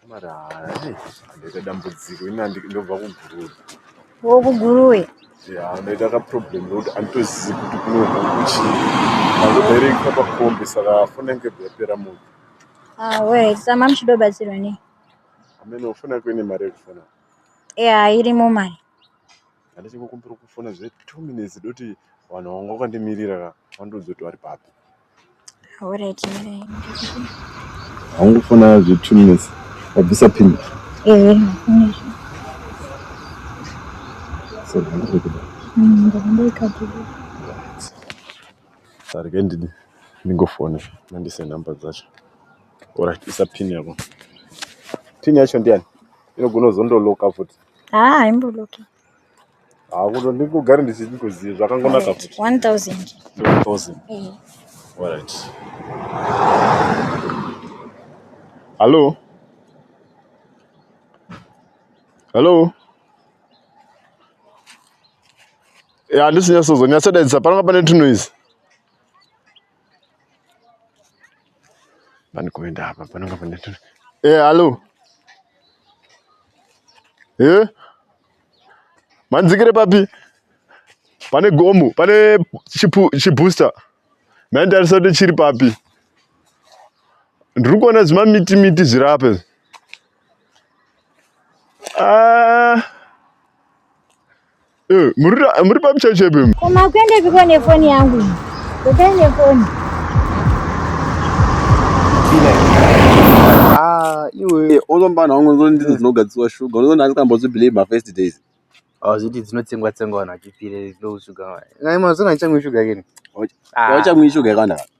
Samari hai ndaita dambudziko ini handi- ndobva kuguruve wokuguruwe ya ndaita ka problem rokuti anditozivi kuti kunobva kuchii ndangobaireika pakombi saka foni yange yabva yapera moto awe sama muchidobatsirwa nei ameno foni yako ine mari yekufona ya irimo mari handichikukumbira kufona zve two minutes doti vanhu vanga vakandimirira ka vandoudza kuti vari papi Alright, mirai. Haungofona zve two minutes. Wabvisa pin. Ehe, ndafuna izvo. So ndiri kuda. Mm, ndakanga ikadhibha. Sari ke ndini ndingofone. Mandise number dzacho. Alright, isa pin yako. Pin yacho ndiyani? Inogona kuzondoloka futi. Ah, imboloki. hakuto ndingogare ndichikuziva zvakangonaka kuti 1000 1000 eh. alright hallo hallo ya handisi nyasozonyatsodaidza pananga pane tunoise Pani kuenda apa panonga pane tu. Eh, alo. Eh? Manzikire papi? Pane gomo, pane chipu chibooster. Maendarisa kuti chiri papi? Ndiri kuona zvima miti miti zviri apa. Ah. Eh, muri pamuchechepi mu koma kuende piko nefoni yangu kukai nefoni ah, iwe unombana wangu ndizvo ndidzo dzinogadziswa shuga unoona andikambozvibelieve mafirst days hazviti ah, dzinotsengwa tsengwa vanhu vachipire ndoshuga nai mazona ndichamwe shuga keni auchamwi shuga yakanaka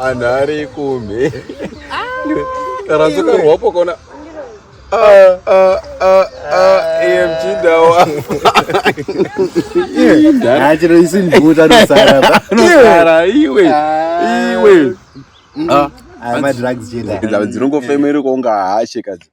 anhu ari kumhe taranzokarwapo ah. kona ah, ah, emchindawa chero isi mbuta nosara iwe iwe madrugs chendaidzinongofemeruka unga hashe kazi